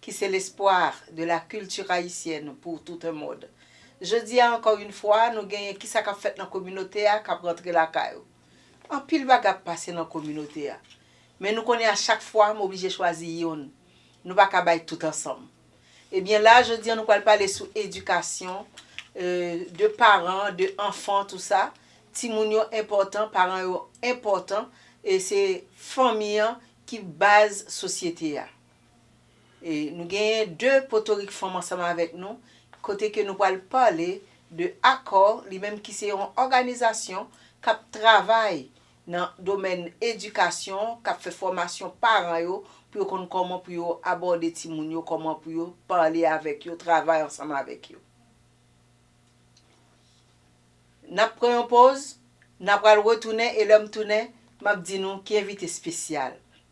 ki se l'espoir de la culture haïtienne pour tout un monde. Jodi a encore une fois nou genyen ki sa kap fèt nan kominote a kap rantre lakay ou. Anpil bagay ap pase nan kominote a. Men nou konnen a chak fwa m oblije chwazi youn. Nou pa ka bay tout ansanm. Ebyen la jodi a nou pral pale sou edikasyon euh de paran, de anfan tou sa. Timoun yo enpòtan, paran yo enpòtan e se fanmi an ki baz sosyete a. E nou genyen 2 potorik fanm ansanm avèk nou kote ke nou pral pale de akò li menm ki se yon òganizasyon kap travay nan domèn edikasyon kap fè fòmasyon paran yo pou yo konn kòman pou yo abòde timoun yo kòman pou yo pale avèk yo travay ansanm avèk yo. Nap pran yon poz na pral retounen e lèm tounen map di nou ki envite spesyal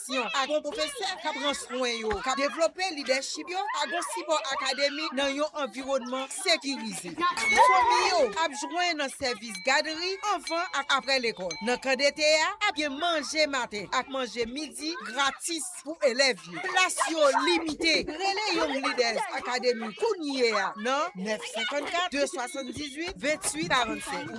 fòmasyon ak bon pwofesè k ap pran swen yo, k ap devlope lidèchip yo ak bon sipò akademik nan yon anviwònman sekirize. Fanmi yo ap jwenn nan sèvis gadri anvan ak apre lekòl. Nan kan dete a, ap gen manje maten ak manje midi gratis pou elèv yo. Plas yo limite. Rele Young Leaders Academy kounye a nan 954 278 28 47.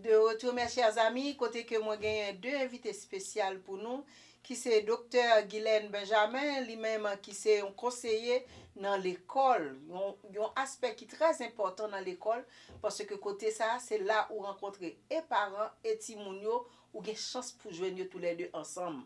De retour mes chers amis kote ke mwen genyen 2 envite spesyal pou nou ki se Doktè Guylaine Benjamin li menm ki se yon konseye nan lekòl yon yon aspè ki trè enpòtan nan lekòl paske kote sa se la ou rankontre e paran e timoun yo ou gen chans pou jwenn yo tou lè 2 ansanm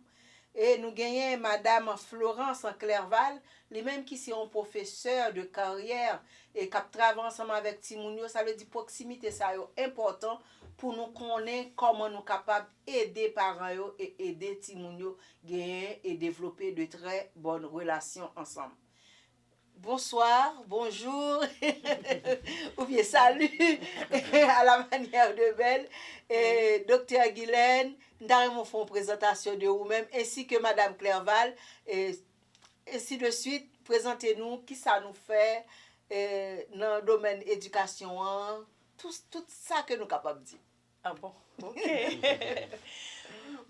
E nou genyen Madam Florence Clerval, li menm ki se yon pwofesè de karyè e k ap travay ansanm avèk timoun yo. Sa vle di pwoksimite sa yo enpòtan pou nou konnen kòman nou kapab ede paran yo e ede timoun yo genyen e devlope de trè bòn relasyon ansanm. Bonsoir, bonjour ou byen salut a la manière de Bel Doktè Guylaine, m ta renmen w fè yon prezantasyon de ou menm ensi ke Madam Clerval e ensi de swit, prezante nou kisa nou fè nan domèn edikasyon an, tout sa ke nou kapab di. Ah bon ok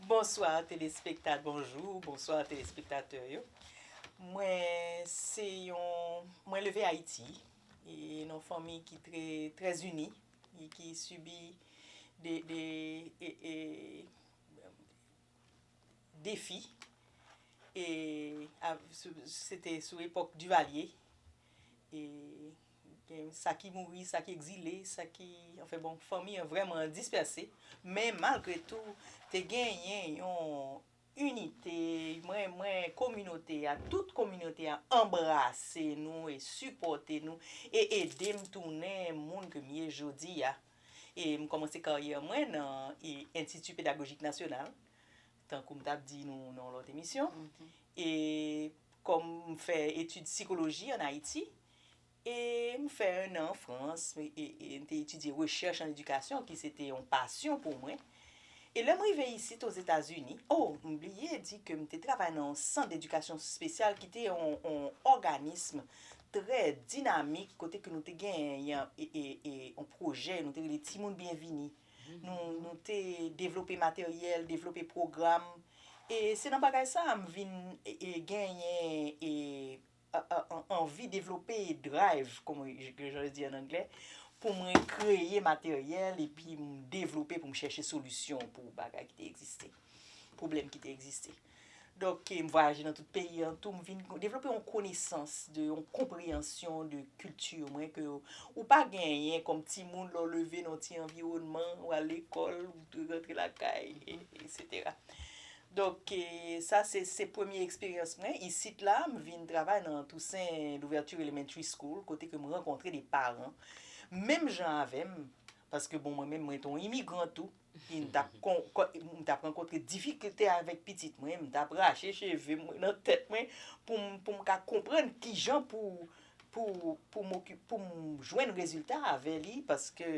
Bonswa telespektat bonjou bonswa telespektatè yo mwen se yon mwen leve ayiti e non fanmi ki tre trè zini e ki sibi de de e defi e se te sou epòk Duvalier e. Gen sa ki mouri, sa ki egzile, sa ki, anfen bon, fanmi an vrèman dispèse. Men malgre tou, te genyen yon inite, mwen, mwen, kominote a, tout kominote a anbrase nou e sipòte nou e ede m tounen moun ke m ye jodi a. E m kòmanse karyè mwen nan Institut Pédagogique National, Tankou m t ap di nou nan yon lòt emisyon, e kòm m fè etid sikoloji ann Ayiti, e m fè ennan an Frans, e m te etidye rechèch ann edikasyon ki se te yon pasyon pou mwen, e lè m rive isit Ozetazini, o, m bliye di ke m te travay nan yon sant dedikasyon spesyal ki te yon òganism trè dinamik kote ke nou te genyen yon pwojè nou te rele Timoun Byenvini. Nou te devlope materyèl, devlope pwogram. E se nan bagay sa a m vin genyen anvi devlope drive, kòm jan yo di an angle, pou mwen kreye materyèl epi m devlope pou m chèche solisyon pou bagay ki te egziste, pwoblèm ki te egziste. Donk, m vwayaje nan tout peyi an tou, m vin devlope yon konesans de, yon konpreyansyon de kilti mwen ke ou pa genyen kòm timoun lè w leve nan yon ti anviwònman, ou al lekòl, ou rantre lakay, eksetera. Donk, sa se, se premye eksperyans mwen. Isit la, m vin travay nan Toussaint Louverture Elementary School kote ke m rankontre de paran menm jan avè m, paske bon mwen menm mwen te yon imigran tou. Epi m t ap kon, m t ap rankontre difikilte avèk pitit mwen, m t ap rache cheve mwen nan tèt mwen pou m pou m ka konprann ki jan pou pou pou m okipe pou m jwenn rezilta avè li paske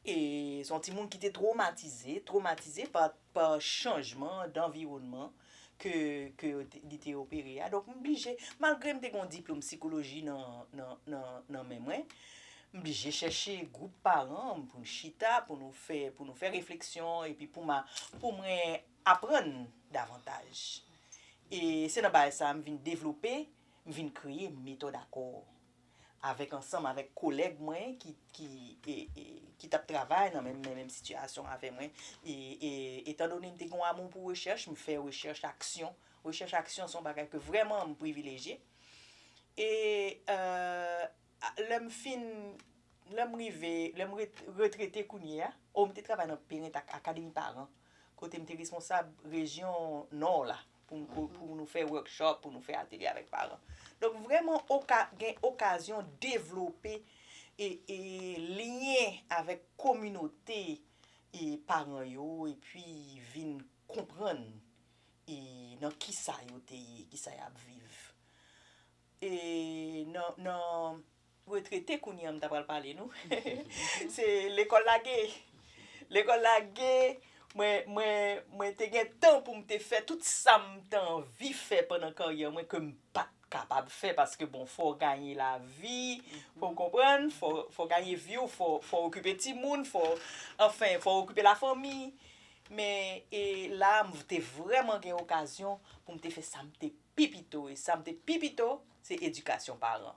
e s on timoun ki te twomatize, twomatize pa pa chanjman danviwònman ke li te opere a, donk m blije, malgre m te gen yon diplome sikoloji nan men mwen, m blije chèche gwoup paran m pou n chita, pou nou fè, pou nou fè refleksyon, epi pou m, pou mwen aprann davantaj. E se nan bagay sa a m vin devlope, m vin kreye metòd akò. avèk ansanm avèk kolèg mwen ki ki e e ki tap travay nan menm menm sitiyasyon avè mwen e e etan done m te gen yon amou pou rechèch m fè rechèch aksyon rechèch aksyon son bagay ke vrèman m privilejye e e a lè m fin lè m rive lè m retrete kounye a o m te travay nan parent ak akademi paran kote m te responsab rejyon Nò la, pou nou fè workshop, pou nou fè atelye avèk paran. Donk vrèman gen okazyon devlope lyen avèk kominote paran yo epi vin konprann nan kisa yo te ye, kisa y ap viv. retrete kounye an m ta pral pale nou se lekòl lage lekòl lage mwen mwen mwen te gen tan pou m te fè tout sa m t anvi fè pandan karyè mwen ke m pa t kapab fè paske bon fò w ganye lavi fò w konprann fò fò w ganye vi w fò fò w okipe timoun fò anfen fò w okipe lafanmi men e la m te vrèman gen okazyon pou m te fè sa m te pi pito e sa m te pi pito se edikasyon paran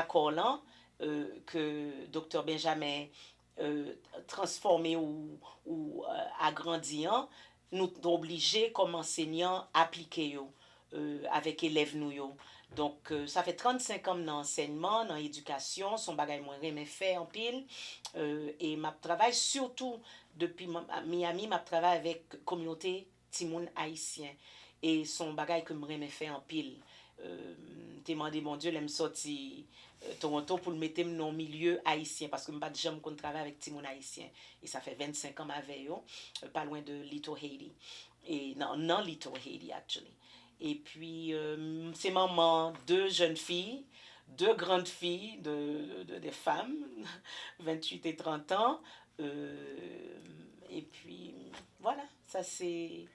Akò lan, ke Doktè Benjamin transfòme ou agrandi an, nou t oblije kòm ansenyan aplike yo avèk elèv nou yo. Donk sa fè 35 an m nan ansèyman, nan edikasyon, s on bagay mwen renmen fè anpil e m ap travay sitou depi Miami m ap travay avèk kominote Timoun ayisyen e son bagay ke m renmen fè anpil. M te mande Bondye lè m sòti Toronto pou l mete m nan yon milye ayisyen paske m pa t janm konn travay avèk timoun ayisyen e sa fè 25 an m avè yo pa lwen de Little Haiti e nan Little Haiti actually. Epi m se manman 2 jèn fi, 2 grand fi de des femmes 28 et 30 ans epi voilà. Sa se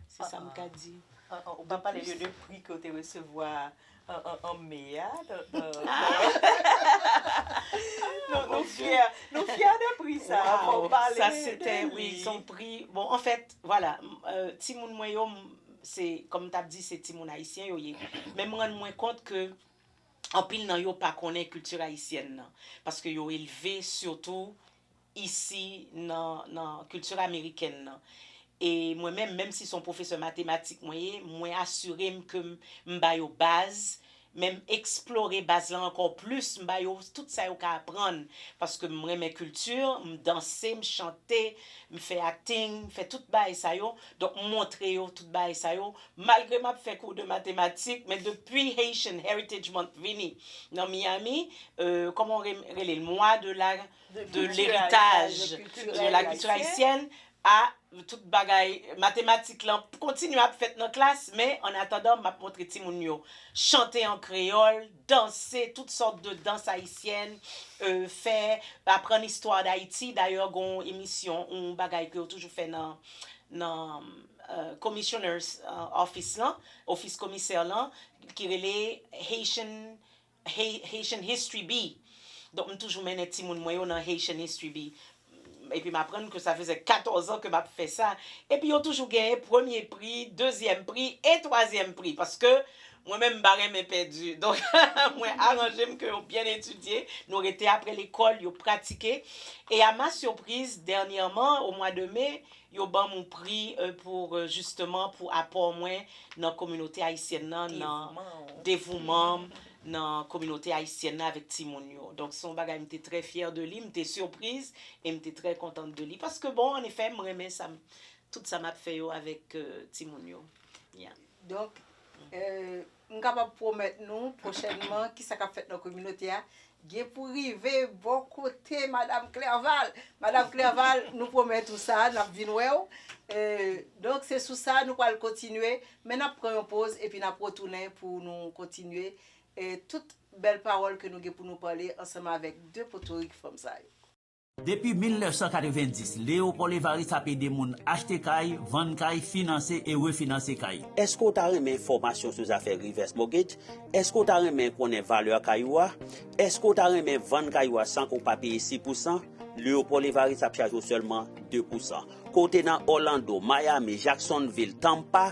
se sa m ka di. Ou pa pale yo de pri ke w te resevwa an me a. Nou fyè nou fyè de pri sa. Waww sa se te wi son pri bon an fèt vwala timoun mwen yo se kòm m t ap di se timoun ayisyen yo ye men m rann mwen kont ke anpil nan yo pa konnen kilti ayisyèn nan paske yo elve sitou isi nan nan culture amerikèn nan e mwen menm menm si son pwofesè matematik mwen ye mwen asire m ke m ba yo baz men m eksplore baz lan ankò plis m ba yo tout sa yo ka aprann paske m renmen culture m danse m chante m fè acting m fè tout bagay sa yo donk m montre yo tout bagay sa yo malgre m ap fè kou de matematik men depi Haitian Heritage Month vini nan Miami euh kòman w rele l mwa de la de leritaj de la culture haïtienne a tout bagay matematik lan kontinye ap fèt nan klas men an atandan map montre timoun yo chante an kreyòl danse tout sòt de dans haïtienne fè aprann istwa d'Haïti dayè gon emisyon yon bagay ke yo toujou fè nan nan commissioner's office lan ofis komisè lan ki rele Haitian Haitian History bi. Donk m toujou mennen timoun mwen yo nan Haitian History bi. Epi m aprann ke sa fèzè 14 an ke m ap fè sa. Epi yo toujou genyen premye pri, dezyèm pri e twazyèm pri. Paske mwen menm m pa renmen pèdi. Donk mwen aranje m ke yo byen etidye. Nou rete apre lekòl, yo pratike. E a ma sipriz, dènyèman, o mwa de me, Yo banm yon pri pou jisteman pou apò mwen nan kominote ayisyèn nan nan devouman m nan kominote ayisyèn nan avèk timoun yo. Donk se yon bagay m te trè fyè de li, m te sipriz e m te trè kontant de li paske bon an efè m renmen sa m tout sa m ap fè yo avèk timoun yo. Donk M kapab pwomèt nou, pwochènman, kisa k ap fèt nan kominote a, gen pou rive bò kote Madam Clerval. Madam Clerval, nou pwomèt ou sa, n ap vin wè w. Donk, se sou sa nou pral kontinye, men n ap pran yon poz epi n ap retounen pou nou kontinye tout bèl pawòl ke nou gen pou nou pale ansanm avèk de potorik fanm sa yo. Depi 1990, Léopold Évariste ap ede moun achte kay, vann kay, finanse e refinanse kay. Èske w ta renmen enfòmasyon sou zafè reverse mortgage? Èske w ta renmen konnen valè kay ou a? Èske w ta renmen vann kay ou a san ke w pa peye si pousan? Léopold Évariste ap chaje w sèlman de pousan. Ke w te nan Orlando, Miami, Jacksonville, Tampa,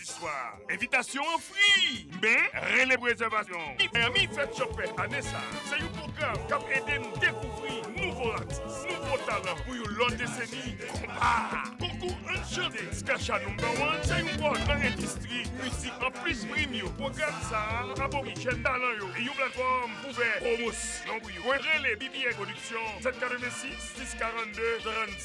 Swa, envitasyon an fri, men rele rezèvasyon. Miami Fèt Yo Fè ane sa a se yon pwogram k ap ede n dekouvri nouvo atis, nouvo talan pou yon lòt deseni. Konpa, konkou Ann Chante Skasha Number One se yon pòt nan endistri mizik. Anplis prim yo, pwogram sa a ap ofri jèn talan yo yon platfòm pou fè pwomosyon pou yo. Rele BBN Production 786 642 35.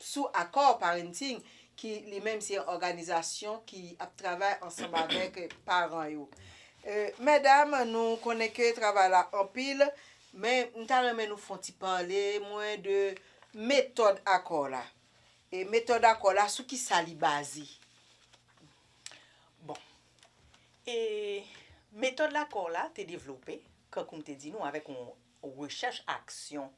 sou Accord Parenting ki li menm se yon òganizasyon ki ap travay ansanm avèk paran yo. Medam nou konnen ke travay la anpil, men m ta renmen nou fon ti pale mwen de metòd Accord la. E metòd Accord la sou ki sa li baze? Bon, e metòd Accord la te devlope, kankou m te di nou avèk yon rechèch aksyon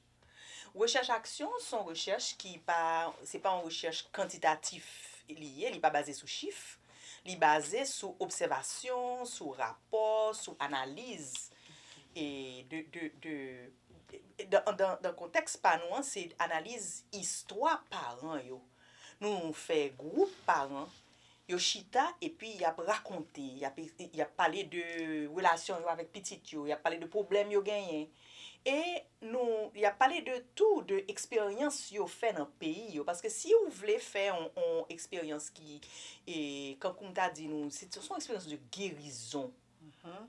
Rechèch aksyon s on rechèch ki pa se pa yon rechèch kantitatif li ye, li pa baze sou chif, li baze sou obsèvasyon, sou rapò, sou analiz e de de de dan dan dan kontèks pa nou an se analiz istwa paran yo nou fè gwoup paran Yo chita epi y ap rakonte, y ap, y ap pale de relasyon yo avèk pitit yo, y ap pale de pwoblèm yo genyen. E nou, y ap pale de tou de eksperyans yo fè nan peyi yo. Paske si ou vle fè yon, yon eksperyans ki, e, kankou m ta di nou, se, se yon eksperyans de gerizon.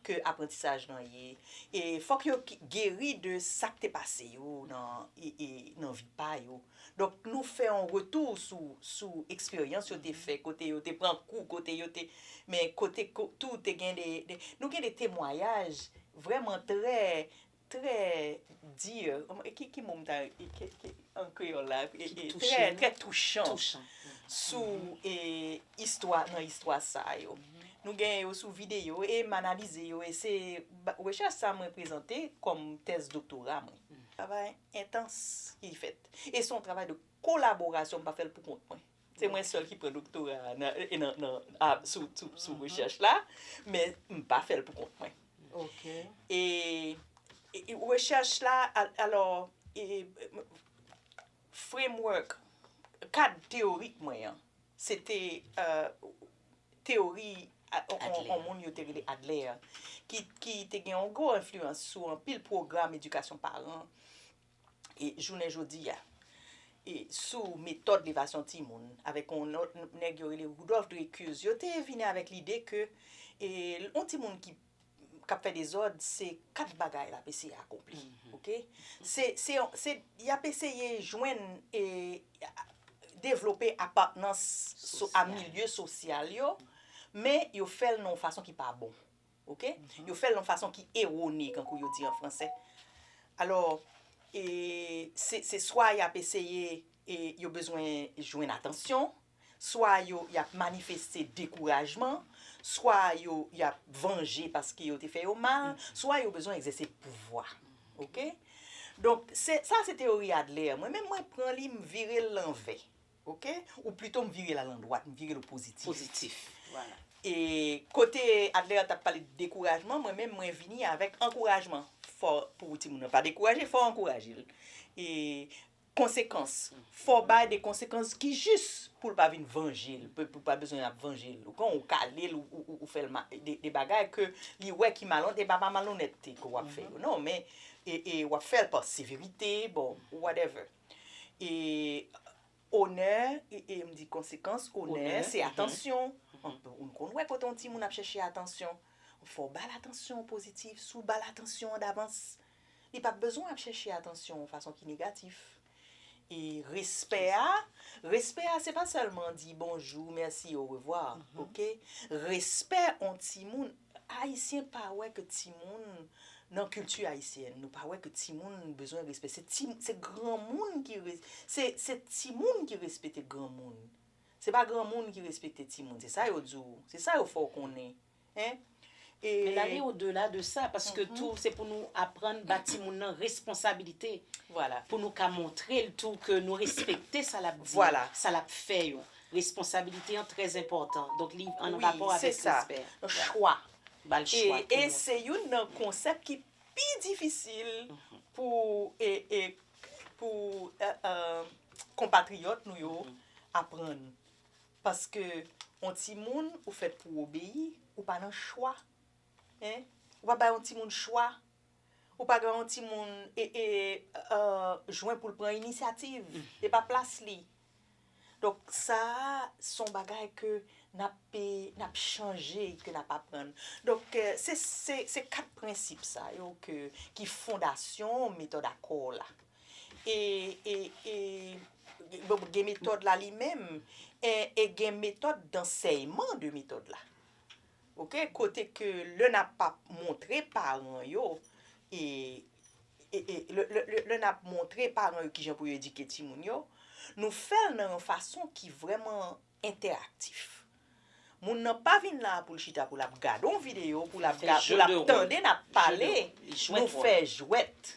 ke aprantisaj lan ye e fòk yo geri de sak te pase yo nan vi pa yo donk nou fè yon retou sou eksperyans yo te fè kote yo te pran kou kote yo te men kote tou te gen de nou gen de temwayaj vrèman trè Trè dur, ki mo m ta, an kreyòl la, trè, trè touchan sou istwa, nan istwa sa yo. Nou genyen yo sou videyo e m analize yo e se rechèch sa mwen prezante kòm tèz doktora mwen. Travay entans ki fèt. E se yon travay de kolaborasyon, m pa fè l pou kont mwen. Se mwen sèl ki pran doktora sou rechèch la, men m pa fè l pou kont mwen. E rechèch la, alò, framework, kad teyorik mwen an, se te teyori yon moun yo te rele Adler, ki te gen yon gwo enfliyans sou anpil pwogram edikasyon paran jounen jodi a sou metòd levasyon timoun avèk yon lòt nèg yo rele Rudolf Dreykus, yo te vini avèk lide ke yon timoun ki ap fè dezòd, se kat bagay l ap eseye akonpli. Oke? Se y ap eseye jwenn e devlope apatnans a milye sosyal yo, men yo fè l nan yon fason ki pa bon. ok, yo fè l yon fason ki ewone kankou yo di an fransè alò e se swa y ap eseye e yo bezwen jwenn atansyon swa yo y ap manifeste dekourajman swa yo y ap vanje paske yo te fè yo mal swa yo bezwen egzèse pouvwa ok donk sa se teyori Adler mwen menm mwen pran li m vire l lanvè Ok ou plito m vire l al andwat, m vire l o pozitif. Pozitif, vwala. E kote Adler a t ap pale de dekourajman, mwen menm mwen vini avèk ankourajman. Fò pou timoun nan pa dekouraje, fò w ankouraje l. E konsekans, fò w bay de konsekans ki jis pou l pa vin vanje l, pou l pa bezwen ap vanje l. Ou konprann, ou kale l, ou fè l de bagay ke li wè ki malonèt, e pa pa malonètte ke w ap fè yo non, men w ap fè l pa severite, bon, whatever. E onè, e m di konsekans onè, se atansyon. Ou n konn wè kote yon timoun ap chèche atansyon, fò w ba l atansyon pozitif. Si w ba l atansyon an davans, li pap bezwen ap chèche atansyon yon fason ki negatif. E respè a, respè a se pa sèlman di bonjou, mèsi, orevwa. Respè yon timoun. Ayisyen pa wè ke timoun nan kilti ayisyèn nou pa wè ke timoun bezwen respè se ti se granmoun ki se se timoun ki respete granmoun se pa granmoun ki respekte timoun se sa yo di w se sa yo fè w konnen hein e Men lale o dela de sa paske tou se pou nou aprann ba timoun nan responsabilite vwala pou nou ka montre l tou ke nou respekte sa l ap di yo vwala sa l ap fè yo Responsabilite an trè enpòtan, donk li an rapò avèk respè. Chwa. E se youn nan konsèp ki pi difisil pou konpatriyòt nou yo aprann. Paske yon timoun ou fèt pou w obeyi, ou pa nan chwa. Ou pa bay yon timoun chwa. Ou pa bay yon timoun jwen pou l pran inisyativ. E pa plas li. Donk sa a se yon bagay ke n ap chanje, ke n ap aprann. Donk se kat prensip sa yo ki fondasyon metòd akò la. E gen metòd la li menm e gen metòd dansèyman de metòd la. Ok kote ke lè nap pap montre paran yo e lè nap montre paran yo kijan pou yo edike timoun yo nou fèl nan yon fason ki vrèman entèraktif moun nan pa vin la poul chita pou lap gade yon video pou lap tande nap pale nou fè jwèt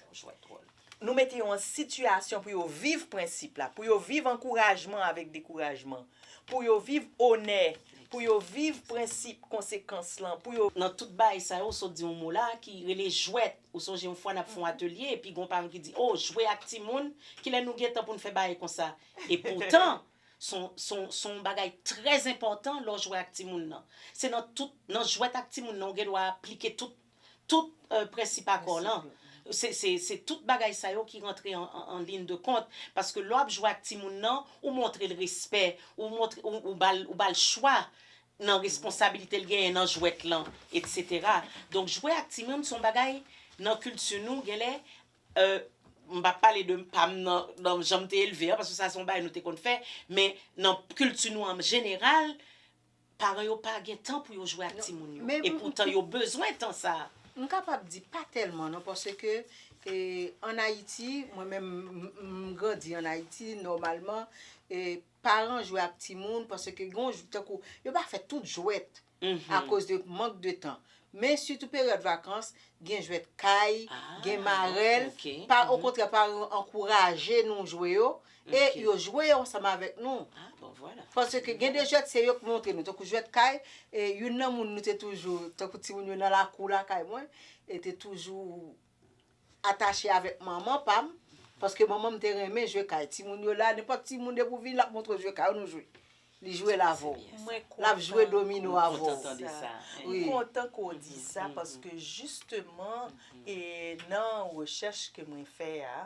Nou mete yo an sitiyasyon pou yo viv prensip la, pou yo viv ankourajman avèk dekourajman, pou yo viv onè, pou yo viv prensip konsekans lan, pou yo. Nan tout bagay sa yo, ou sot di yon mo la, ki rele jwèt. Ou sonje yon fwa n ap fè yon atelye, epi gen yon paran ki di, O, jwe ak timoun? Kilè nou gen tan pou n fè bagay konsa? Epoutan, s on, s on, s on yon bagay trèzenpòtan lè w jwe ak timoun nan. Se nan tout, nan jwèt ak timoun nan, ou gen dwa aplike tout. Tout prensip akò lan, se tout bagay sa yo ki rantre an lin de kont, paske lè w ap jwe ak timoun nan, ou montre l respè, ou ba l chwa nan responsabilite l genyen nan jwèt lan, etsetera. Donk jwe ak timoun se yon bagay nan kilti nou genlè, m p ap pale de pa m nan jan m te elve an, paske sa se yon bagay nou te konn fè, men nan kilti nou an jeneral, Paran yo pa gen tan pou yo jwe ak timoun yo. E poutan yo bezwen tan sa a. M kapab di pa tèlman non paske an Ayiti, mwen menm m grandi an Ayiti nòmalman paran jwe ak timoun paske tankou yo pa fè tout jwèt akoz de mank de tan. Men sitou peryòd vakans gen jwèt kay, gen marèl, okontrè paran yo ankouraje nou jwe yo e yo jwe yo ansanm avèk nou paske gen de jwèt se yo ki montre nou tankou jwèt kay e youn nan moun nou te toujou tankou timoun yo nan lakou lakay mwen e te toujou atache avèk manman pa m paske manman m te renmen jwe kay timoun yo la nenpòt timoun depi w vini l ap montre w jwe kay ou nou jwe Li jwel avw. Lap jwe domino avw. M kontan ke w di sa paske jisteman e nan rechèch ke mwen fè a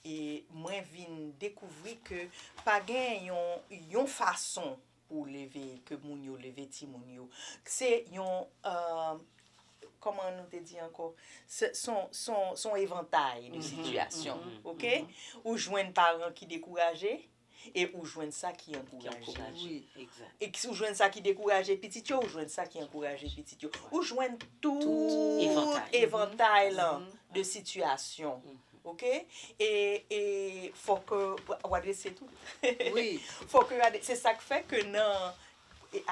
e mwen vin dekouvri ke pa gen yon yon fason pou w leve ke moun yo leve timoun yo. Se yon kòman nou te di ankò se son son son evantay de sitiyasyon ok ou jwenn paran ki dekouraje e ou jwenn sa ki ankouraje. E si ou jwenn sa ki dekouraje pitit yo, ou jwenn sa ki ankouraje pitit yo. Ou jwenn tout evantay lan de sitiyasyon. Ok? E fò ke ou adrese tout. Fò ke ou adrese. Se sa k fè ke nan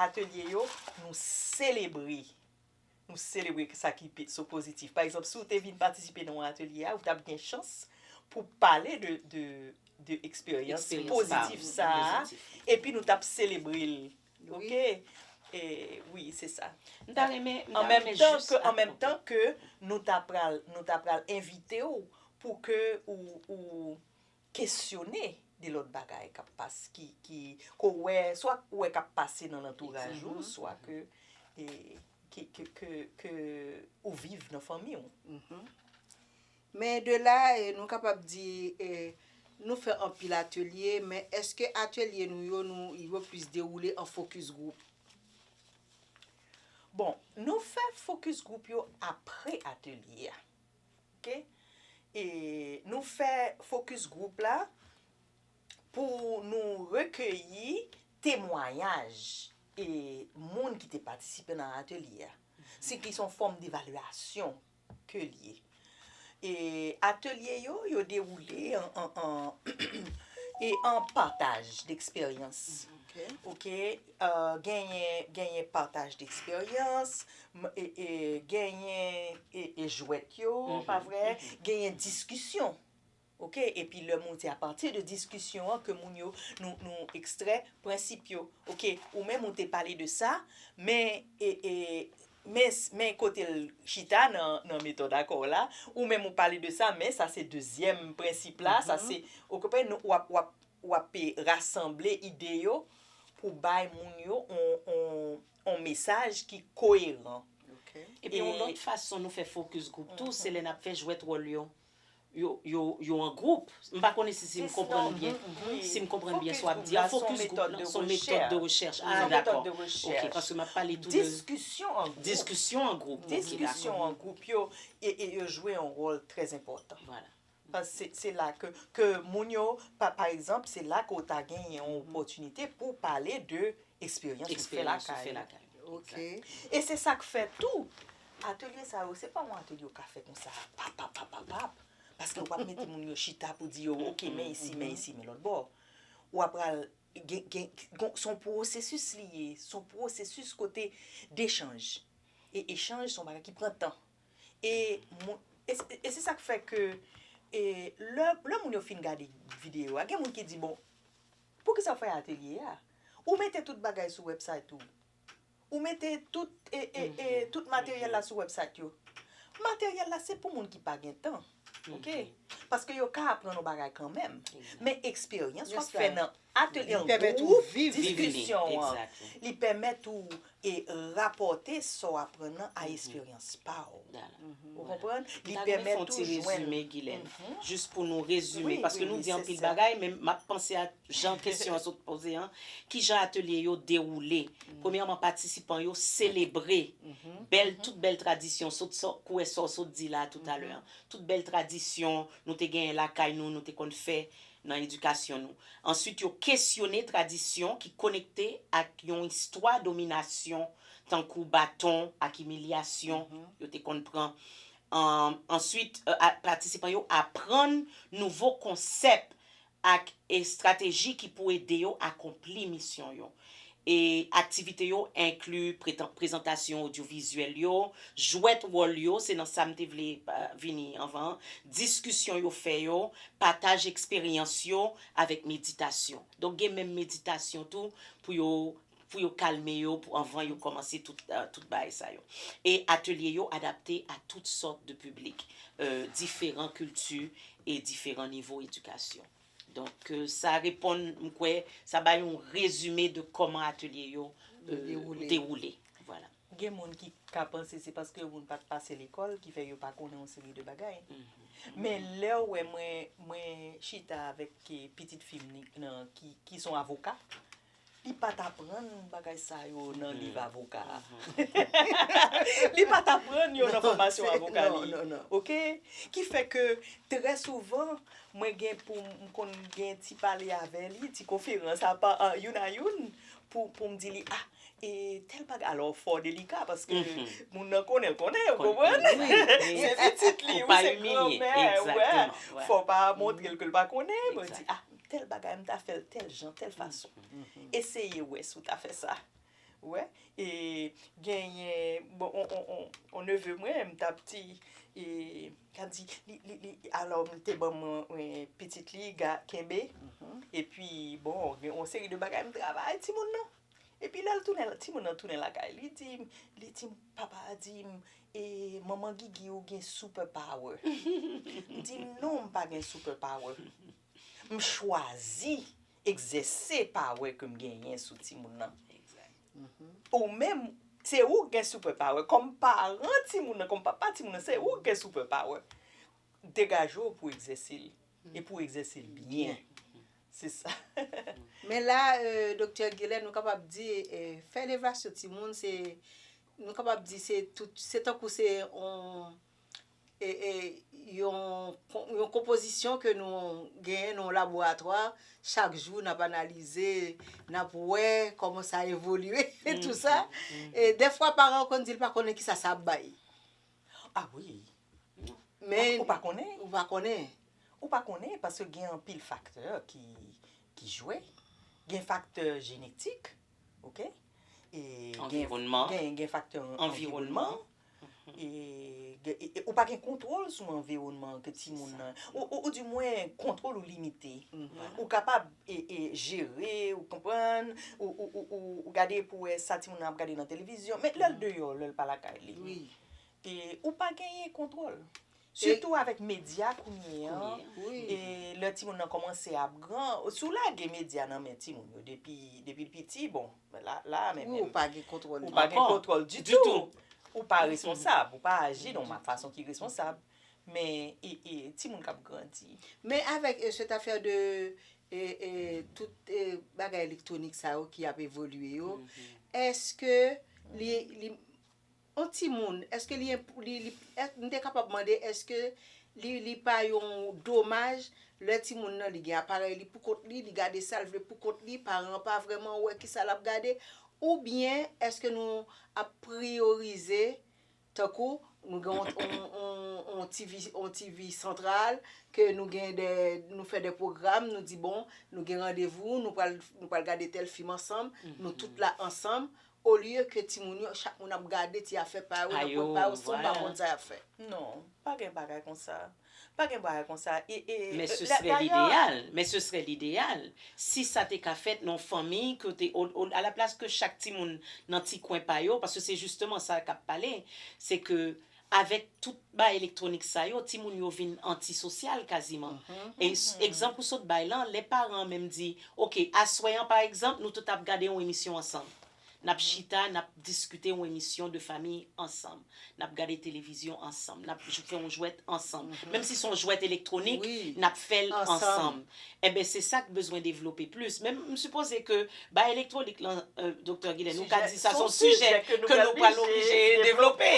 atelye yo, nou selebre. Nou selebre sa ki so pozitif. Pa egzanp, si w te vin patisipe nan yon atelye a, ou t ap gen chans pou w pale de eksperyans pozitif sa a, epi nou t ap selebre l. Ok? Wi, se sa. M ta renmen jis. An menm tan ke nou ta pral envite w pou ke ou kesyone de lòt bagay k ap pas, ki, ki, ke w wè, swa ou wè k ap pase nan lantouraj ou, swa ke, e, ke, ke, ke, ke ou viv nan fanmi ou. Men de la, e, nou kapab di, e, nou fè anpil atelye, men èske atelye nou yo, nou, yo plis dewoule an fokis gwoup? Bon, nou fè fokis gwoup yo apre atelye a. Ok e nou fè focus group la pou nou rekeyi temwanyaj e moun ki te patisipe nan atelye a. Si ki son fòm devalyasyon ke li ye. E atelye yo yo dewoule an e an pataj deksperyans. Ok. Genyen genyen pataj d'eksperyans, genyen e jwèt yo, pa vre? Genyen diskisyon, ok? Epi lè moun se apati de diskisyon an ke moun yo nou ekstrè prensip yo, ok? Ou menm ou te pale de sa, men e men kote l chita nan metòd akò w la, ou menm ou pale de sa, men sa se dezyèm prensip la, sa se, ou konprann, w ap. w ap rasanble ide yo pou bay moun yo yon mesaj ki koyeran. Epi yon lòt fason nou fè fokis gwoup tou, se lè n ap fè jwèt wòl yo, yo an gwoup. M pa konnen si m konprann byen, si m konprann byen sa w ap di a. Fokis gwoup lan se yon metòd de rechèch. A, dakò. Ok, paske m ap pale tou de. Diskisyon an gwoup. Diskisyon an gwoup. Diskisyon an gwoup yo jwe yon wòl trè enpòtan. Vwala. Se la ke moun yo, pa egzanp, se la ke w ta gen yon opòtinite pou w pale de eksperyans ou fè lakay ou. E se sa k fè tou, atelye sa yo, se pa yon atelye ou ka fè konsa, pap, pap, pap, pap, pap. Paske w ap mete moun yo chita pou di yo, ok, men isi, men isi, men lòtbò. Ou ap pral gen, se yon pwosesis li ye, se yon pwosesis kote dechanj. E echanj se yon bagay ki pran tan. E moun, e se sak fè ke e lè moun yo fin gade video a gen moun ki di bon poukisa ou fè atelye a? Ou mete tout bagay sou website ou. Ou mete tout e e e tout materyèl la sou website yo. Materyèl la se pou moun ki pa gen tan ok paske yo ka aprann yon bagay kanmenm men eksperyans wap fè nan Atelier an gwoup diskisyon an li pèmèt ou e rapòte sa w aprann nan a esperyans pa w. Ou konprann? Li pèmèt ou jwenn. Mwen ta renmen fè yon ti rezime Gilène. Jis pou nou rezime paske nou di anpil bagay men m ap panse ak jan kesyon an sot poze an. Kijan atelye yo dewoule? Premyèman patisipan yo selebre bèl tout bèl tradisyon sot sa w kwè sa w sot di la toutalè an. Tout bèl tradisyon nou te genyen lakay nou, nou te konn fè nan edikasyon nou. Answit yo kesyone tradisyon ki konekte ak yon istwa dominasyon tankou baton ak imilyasyon yo te konn pran. Answit patisipan yo aprann nouvo konsèp ak estrateji ki pou ede yo akonpli misyon yo. E aktivite yo enkli pretan prezantasyon odyovizyèl yo, jwèt wòl yo, se nan sa m te vle vini anvan an, diskisyon yo fè yo, pataj eksperyans yo avèk meditasyon. Donk gen menm meditasyon tou pou yo pou yo kalme yo pou anvan yo kòmanse tout tout bagay sa yo. E atelye yo adapte a tout sòt de piblik, diferan kilti e diferan nivo edikasyon. Donk sa reponn, m kwè, sa bay yon rezime de kòman atelye yo dewoule. Gen moun ki ka panse se paske yo moun pa t pase lekòl ki fè yo pa konnen yon seri de bagay. Men lè ou wè mwen chita avèk pitit fi m ki son avoka, Li pat aprann bagay sa yo nan liv avoka. Li pat aprann yo nan fòmasyon avoka li. Non, non, non. Ok? Ki fè ke trè souvan, mwen gen pou m konn gen ti pale avè li, ti konferans apa, youn a youn, pou pou m di li, ah, e tèl bagay, alò fò delika paske moun nan konnen l konnen, ou konprann? Se pitit li, ou se granmè, wè, fò pa montre l ke l pa konnen, mwen di, ah. Tèl bagay m ta fè l tèl jan, tèl fason. Eseye wè si w ta fè sa. Ou wè? E genyen bon yon neve mwen m t ap di e l ap di li alò li te ban mwen pitit li kenbe epi bon gen yon seri de bagay m travay timoun nan. Epi lè l tounen timoun nan tounen lakay li di m li di m papa a di m e manman Gigi ou gen super power. M di non m pa gen super power. M chwazi egzèse pawer ke m genyen sou timoun nan. Ou menm, se ou k gen super power. Kòm paran timoun nan, kòm papa timoun nan, se ou k gen super power. Degaje w pou egzèse l. E pou w egzèse l byen. Se sa. Men la, Doktè Gilè, nou kapab di, fè elevasyon timoun se, nou kapab di se tout, se tankou se yon, yon konpozisyon ke nou genyen nan yon laboratwa, chak jou n ap analize, n ap wè kòman sa evolye, e tou sa. E dèfwa paran yo konn di l pa konnen kisa sa ap bay. A wi. Men. Ou pa konnen? Ou pa konnen. Ou pa konnen paske gen anpil faktè ki jwe. Gen faktè jenetik, oke. Anviwònman. Gen faktè anviwònman. Ou pa gen kontwòl sou anviwònman ke ti moun nan. Ou di mwen kontwòl ou limite. Ou kapab jere, ou konprann, ou gade pou wè sa ti moun nan ap gade nan televizyon. Men lèl deyò, lèl pa lakay li. Ou pa genyen kontwòl. Sitou avèk medya kounye an, e lè timoun nan kòmanse ap gran, si w lage medya nan men timoun yo depi l piti, bon, la a menm menm. Ou pa gen kontwòl li. Ou pa gen kontwòl ditou. Ou pa responsab, ou pa aji nan yon fason ki responsab. Men, e timoun k ap grandi. Men avèk sèt afè de tout bagay elektwonik sa yo ki ap evolye yo, èske li. On timoun, èske li enp, li, li, èske, m te kapab mande èske li, li pa yon domaj lè timoun nan li gen aparèy li pou kont li, li gade sa l vle pou kont li, paran an pa vrèman wè ki sa l ap gade, oubyen èske nou ap priyorize tankou nou gen on, on, on, on TV, on TV santral ke nou gen dè, nou fè dè pwogram, nou di bon, nou gen randevou, nou pral, nou pral gade tèl fim ansanm, nou tout la ansanm, Olye ke timoun yo chak moun ap gade ti afè pa yo nan kwen pa yo san yo pa konn sa yap fè. Non, pa gen bagay konsa. Pa gen bagay konsa. Men se serè lideyal. Men se serè lideyal. Si sa te ka fèt nan yon fanmi kote a la plas ke chak timoun nan ti kwen pa yo, paske se jisteman sa kap pale, se ke Avèk tout bagay elektwonik sa yo, timoun yo vin antisosyal kaziman. E egzanp ou sot bay lan, lè paran an menm di, ok, aswè an pa egzanp, nou tout ap gade yon emisyon ansanm. N ap chita, n ap diskite yon emisyon de fami ansanm. N ap gade televizyon ansanm. N ap fè yon jwèt ansanm. Menm si se yon jwèt elektwonik, n ap fè l ansanm. Enben se sa k bezwen devlope plis. Men m sipoze ke bay elektwonik lan Doktè Gilè nou ka di sa son sijè ke nou pral oblije devlope.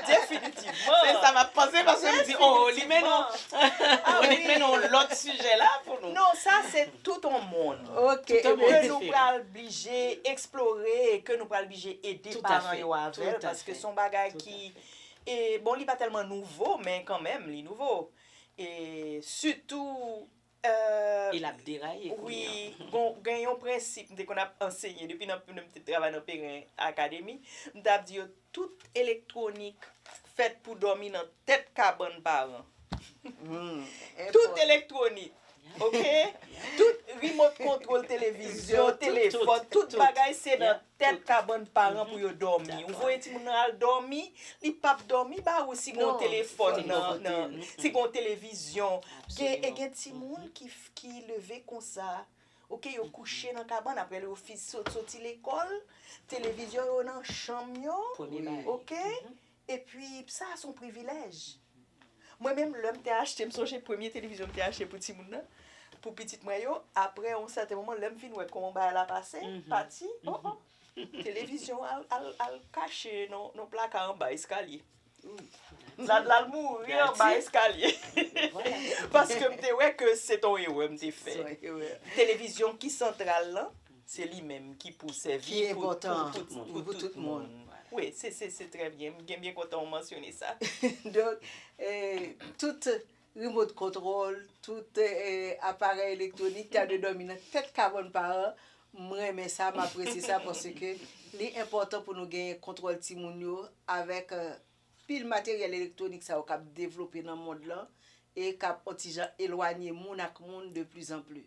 Definitivman. Se sa m ap panse paske m di oo li mennen w li mennen w lòt sijè la pou nou. Non sa se tout on monn. Ok. Ke nou pral blije eksplore e ke nou pral blije ede paran yo avè l paske son bagay ki bon li pa tèlman nouvo men kanmenm li nouvo. E sitou euh. E lap deraye kounye an. Wi, bon gen yon prensip m te konn ap anseye depi nan lè m te travay nan Perrin Academy, m tap di yo tout elektwonik fèt pou dòmi nan tèt kabann paran. Tout elektwonik ok, tout remote control televizyon, telefòn, tout bagay se nan Tèt kabann paran pou yo dòmi. Ou voye timoun nan al dòmi, li pap dòmi ba ou si gen yon telefòn nan, si gen yon televizyon. E gen timoun ki leve konsa, ok, yo kouche nan kabann, aprè yo soti lekòl, televizyon yo nan chanm yo, ok, Epi sa a se yon privilèj. Mwen menm lè m te achte, m sonje premye televizyon m te achte pou timoun nan, pou pitit mwen yo, aprè yon sèten moman lè m vin wè kòman bagay la pase, pati, o o, televizyon an al kache nan yon plaka anba eskalye. L al mouri anba eskalye. Paske m te wè ke se te yon erè m te fè. Televizyon ki santral lan. Se li menm ki pou sèvi pou tout moun. Pou tout moun. Wi, se trè byen. M byen kontan ou mansyone sa. Donk, tout remote control, tout aparèy elektwonik ta dwe dòmi nan tèt kabòn pa an. M renmen sa, m apresye sa paske li enpòtan pou nou genyen kontwòl timoun yo avèk. Pil materyèl elektwonik sa yo k ap devlope nan mond lan e k ap on ti jan elwanye moun ak moun de pli zan pli.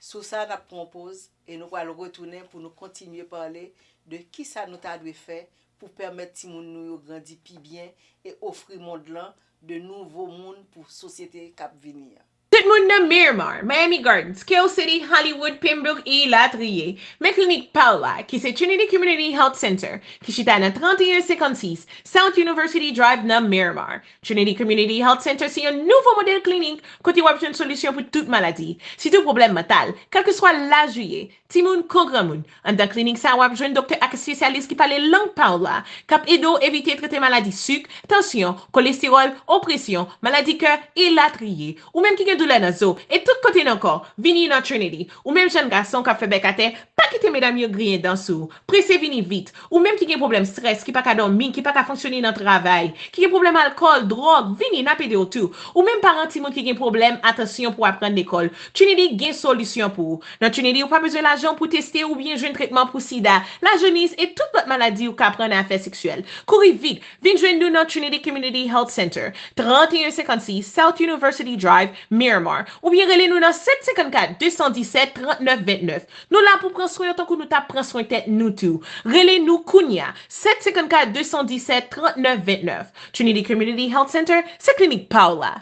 Sou sa n ap pran on poz e nou pral retounen pou nou kontinye pale de ki sa nou ta dwe fè pou pèmèt timoun nou yo grandi pi byen e ofri mond lan de nouvo moun pou sosyete k ap vini an. Tout moun nan Miramar, Miami Gardens, Kale City, Hollywood, Pembrook e ilatriye, men klinik pa w la, ki se Trinity Community Health Center, ki chita nan 3156 South University Drive nan Miramar. Trinity Community Health Center se yon nouvo modèl klinik kote w ap jwenn solisyon pou tout maladi, sitou pwoblèm mantal, kèlkeswa laj ou ye, Timoun kou granmoun, anndan klinik sa a w ap jwenn doktè ak espesyalis ki pale lang pa w la, k ap ede w evite trete maladi sik, tansyon, kolestewòl, opresyon, maladi kè, elatriye. Ou menm ki gen doulè nan zo e tout kote nan kò, vini nan Trinity. Ou menm jèn gason k ap fè bèk atè, pa kite medam yo griyen dan sou ou. Prese vini vit! Ou menm ki gen pwoblèm strès, ki pa ka dòmi, ki pa ka fonksyone nan travay, ki gen pwoblèm alkòl, dwòg, vini, n ap ede w tou. Ou menm paran timoun ki gen pwoblèm atansyon pou aprann lekòl, Trinity gen solisyon pou ou. Nan Trinity ou pa bezwen lajan pou teste oubyen jwenn tretman pou sida, lajeniz e tout lòt maladi ou ka pran nan afè seksyèl. Kouri vit, vin jwenn nou nan Trinity Community Health Center, 3156 South University Drive, Miramar, oubyen rele nou nan 754 217 39 29. Nou la pou pran swen yo tankou nou tap pran swen tèt nou tou. Rele nou kounya, 754 217 39 29. Trinity Community Health Center, se klinik pa w la.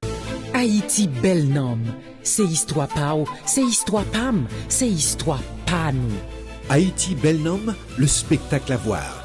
Ayiti bèl nanm se istwa pa w se istwa pa m se istwa pa nou. Ayiti bèl nanm le spectacle à voir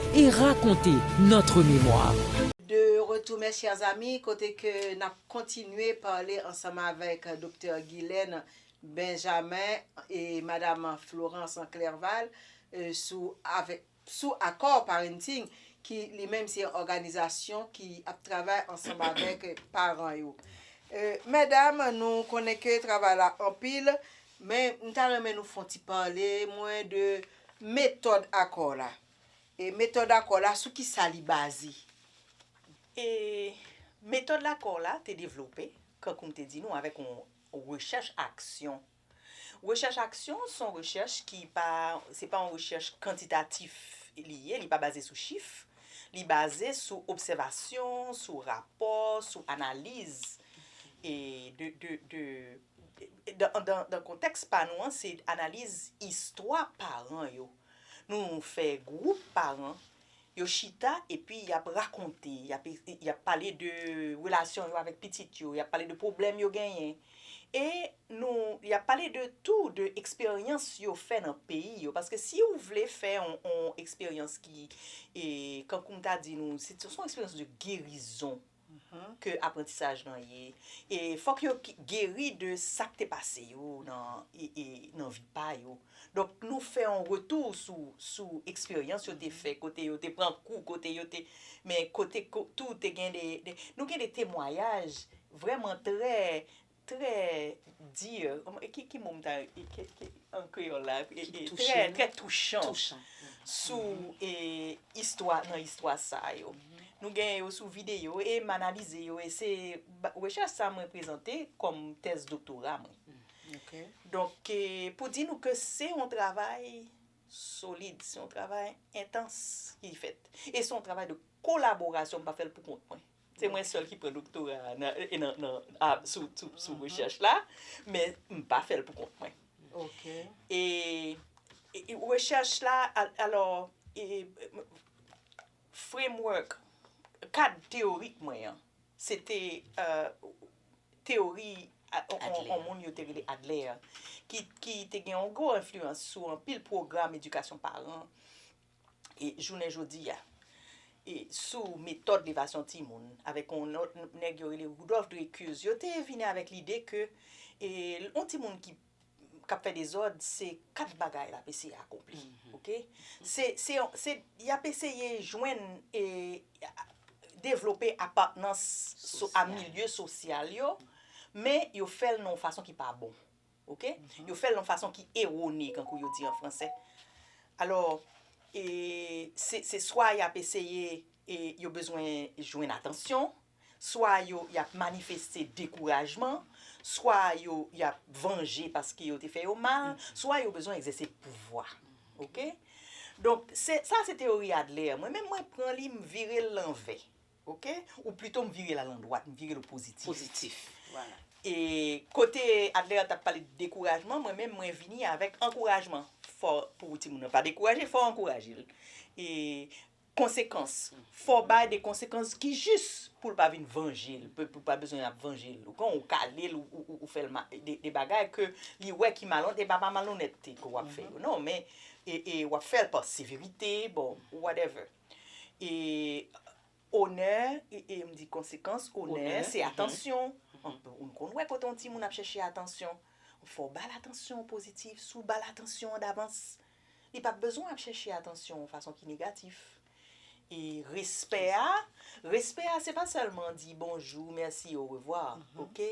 et raconter notre mémoire. De retour mes chers amis kote ke nap kontinye pale ansanm avèk Doktè Guylaine Benjamin e Madam Florence Clerval sou avèk sou Accord Parenting ki li menm se yon òganizasyon ki ap travay ansanm avèk paran yo. Medam nou konnen ke travay la anpil men m ta renmen nou fon ti pale mwen de metòd Accord la. E metòd akò la, sou ki sa li baze? E metòd lakò la te devlope, kankou m te di nou, avèk yon rechèch aksyon. Rechèch aksyon se yon rechèch ki pa, se pa yon rechèch kantitatif li ye, li pa baze sou chif, li baze sou obsèvasyon, sou rapò, sou analiz e de, de, de, dan, dan kontèks pa nou an se analiz istwa paran yo. Nou fè gwoup paran, yo chita epi y ap rakonte, y ap pale de relasyon yo avèk pitit yo, y ap pale de pwoblèm yo genyen. E nou, y ap pale de tou de eksperyans yo fè nan peyi yo. Paske si ou vle fè yon eksperyans ki, kankou m ta di nou, se yon eksperyans de gerizon. ke aprantisaj lan ye e fòk yo geri de sak te pase yo nan vi pa yo donk nou fè yon retou sou eksperyans yo te fè kote yo te pran kou kote yo te men kote tou te gen de nou gen de temwayaj vrèman trè Trè dur, ki mo m ta an kreyòl la? Trè, trè touchan sou istwa, nan istwa sa yo. Nou genyen yo sou videyo e m analize yo e se rechèch sa mwen prezante kòm tèz doktora mwen. Donk, pou di nou ke se yon travay solid, se yon travay entans ki fèt. E se yon travay de kolaborasyon, m pa fè l pou kont mwen. Se mwen sèl ki pran doktora sou rechèch la, men m pa fè l pou kont mwen. Ok. E rechèch la, alò, framework, kad teyorik mwen an, se te teyori yon moun yo te rele Adler, ki te gen yon gwo enfliyans sou anpil pwogram edikasyon paran, jounen jodi a sou metòd levasyon timoun avèk yon lòt nèg yo rele Rudolf Dreykus, yo te vini avèk lide ke yon timoun ki ap fè dezòd, se kat bagay l ap eseye akonpli. Oke? Se y ap eseye jwenn e devlope apatnans a milye sosyal yo, men yo fè l nan yon fason ki pa bon. Ok? Yo fè l yon fason ki ewone, kankou yo di an franse. Alò, e, se, se swa y ap eseye, e, yo bezwen jwenn atansyon, swa yo, y ap manifeste dekourajman, swa yo, y ap vanje paske yo te fè yo mal, swa yo bezwen egzèse pouvwa. Ok? Donk, se, sa se teyori Adler. Mwen menm mwen pran li, m vire l lanvè. Ok ou pluto m vire l al andwat m vire l opositif. Positif voilà. E kote Adlera tap pale de dekourajman mwen menm mwen vini avèk ankourajman fò pou timoun nan pa dekouraje fò ankouraje l e konsekans fò bay de konsekans ki jis pou l pa vin vanje l pou l pa bezwen ap vanje l ou konprann ou kale l ou fè l de bagay ke li wè ki malon e pa pa malonètete ke wap fè yo non men e wap fè l pa severite bon whatever. E onè, e m di konsekans onè, se atansyon. Ou n konn wè kote yon timoun ap chèche atansyon, fò w ba l atansyon pozitif. Si w ba l atansyon an davans, li pap bezwen ap chèche atansyon yon fason ki negatif. E respè a, respè a se pa sèlman di bonjou, mèsi, orevwa, oke.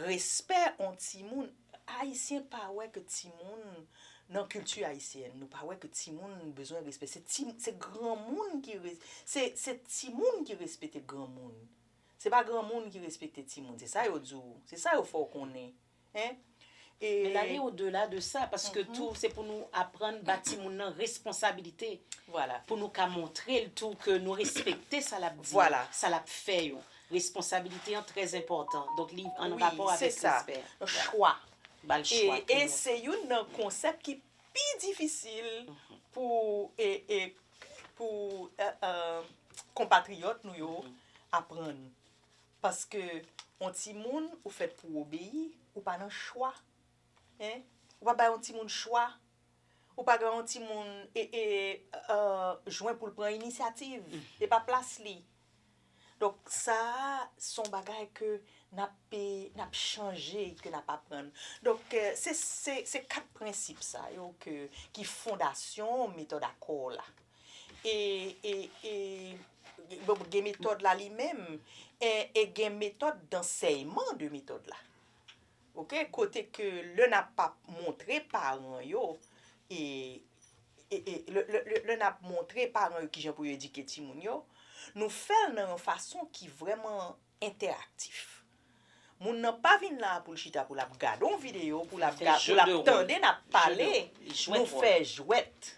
Respè yon timoun. Ayisyen pa wè ke timoun nan kilti ayisyèn nou pa wè ke timoun bezwen respè se ti se granmoun ki se se timoun ki respete granmoun se pa granmoun ki respekte timoun se sa yo di w se sa yo fè w konnen en e Men lale o dela de sa paske tou se pou nou aprann ba timoun nan responsabilite vwala pou nou ka montre l tou ke nou respekte sa l ap di yo vwala sa l ap fè yo Responsabilite an trè enpòtan, donk li an rapò avèk respè. Chwa. E se youn nan konsèp ki pi difisil pou konpatriyòt nou yo aprann. Paske yon timoun ou fèt pou w obeyi, ou pa nan chwa. Ou pa bay yon timoun chwa. Ou pa bay yon timoun jwen pou l pran inisyativ. E pa plas li. Donk sa a se yon bagay ke n ap chanje, ke n ap aprann. Donk se kat prensip sa yo ki fondasyon metòd akò la. E gen metòd la li menm e gen metòd dansèyman de metòd la. Ok kote ke lè nap pap montre paran yo e lè nap montre paran yo kijan pou yo edike timoun yo nou fèl nan yon fason ki vrèman entèraktif moun nan pa vin la poul chita pou lap gade yon videyo pou lap tande nap pale nou fè jwèt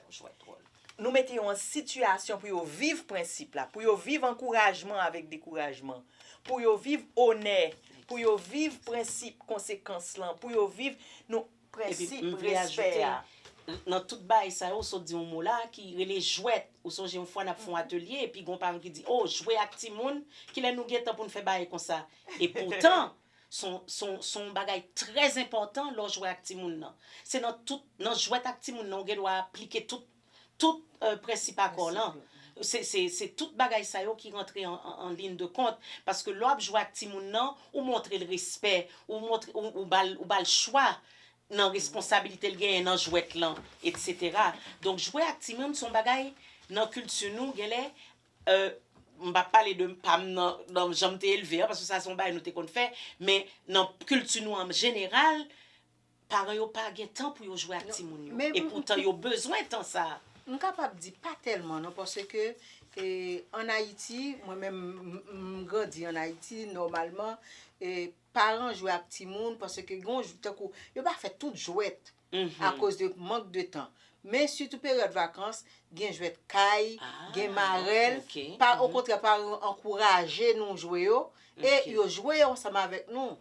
Nou mete yo an sitiyasyon pou yo viv prensip la, pou yo viv ankourajman avèk dekourajman, pou yo viv onè, pou yo viv prensip konsekans lan, pou yo viv nou prensip respè a. Nan tout bagay sa yo, ou sot di yon mo la ki rele jwèt. Ou sonje yon fwa n ap fè yon atelye epi gen yon paran ki di, o, jwe ak timoun, kilè nou gen tan pou n fè bagay konsa? Epoutan, Se yon bagay trè enpòtan lè w jwe ak timoun nan. Se nan tout, nan jwèt ak timoun nan ou gen dwa aplike tout, tout prensip akò lan. Se tout bagay sa yo ki rantre an lin de kont. Paske lè w ap jwe ak timoun nan, ou montre l respè, ou montre, ou ba l, ou ba l chwa nan responsabilite l genyen nan jwèt lan, eksetera. Donk jwe ak timoun se yon bagay nan kilti nou genlè M pap pale de pa m nan jan m te elve an paske sa se yon bagay nou te konn fè men nan kilti nou an jeneral paran yo pa gen tan pou yo jwe ak timoun yo epoutan yo bezwen tan sa a. M kapab di pa tèlman non paske an Ayiti mwen menm m grandi an Ayiti nòmalman paran jwe ak timoun paske gen yon tankou yo pa fè tout jwèt akoz de mank de tan. Men sitou peryòd vakans, gen jwèt kay, gen marèl, pa okontrè paran yo ankouraje nou jwe yo e yo jwe yo ansanm avèk nou.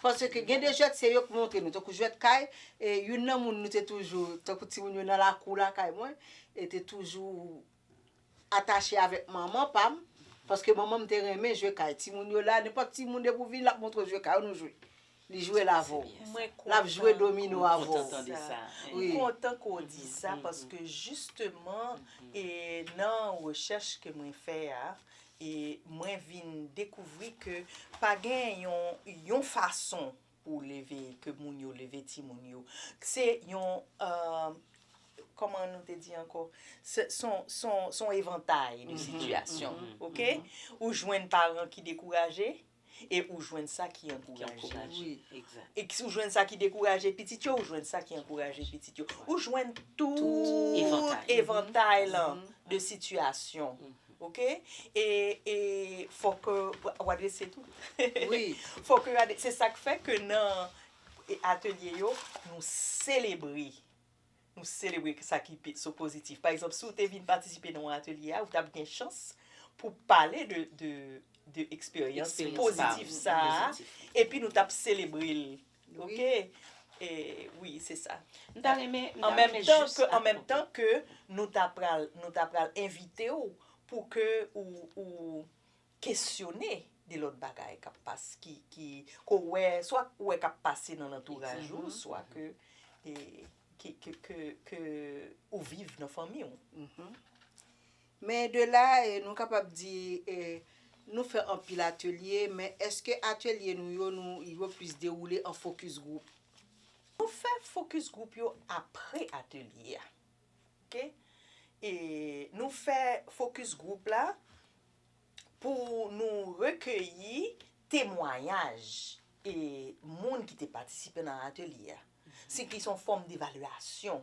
Paske gen de jwèt se yo ki montre nou, tankou jwèt kay, youn nan moun nou te toujou, tankou timoun yo nan lakou lakay mwen, te toujou. atache avèk manman pam paske manmanm te renmen jwe kay timoun yo la nenpòt timoun depi ou vini lap montre w jwe kay ou nou jwe li jwe l avè w Mwen kontan. lap jwe domino avè w Kontan tande sa. M kontan ke w di sa paske jisteman e nan rechèch ke mwen fè a e mwen vin dekouvri ke pa gen yon yon fason Pou w leve, ke moun yo leve timoun yo. Se yon, kòman nou te di ankò, s on evantay de sitiyasyon. Ok? Ou jwenn paran ki dekouraje, e ou jwenn sa ki ankouraje. E ou jwenn sa ki dekouraje pitit yo, ou jwenn sa ki ankouraje pitit yo. Ou jwenn tout evantay lan de sitiyasyon. Ok e e fok ou adrese tou wi fok ou adrese se sak fè ke nan atelye yo nou selebre nou selebre sa ki so pozitif pa egzanp si ou te vin patisipe nan yon atelye a ou tap gen chans pou pale de de de eksperyans pozitif sa epi nou tap selebre l. Ok wi se sa. M ta renmen m ta renmen jis ak. An menm tan ke nou ta pral nou ta pral envite w pou ke ou ou kesyone de lòt bagay k ap pase ki ki ke w wè swa ou wè k ap pase nan lantouraj ou swa ke ke ke ke ke ou viv nan fanmi w. Men de la nou kapab di nou fè anpil atelye, men èske atelye nou yo nou yo plis dewoule an fokis gwoup? Nou fè fokis gwoup yo apre atelye a. Ke e nou fè fokis gwoup la pou nou rekeyi temwayaj e moun ki te patisipe nan atelye a. Si ki son fòm devalyasyon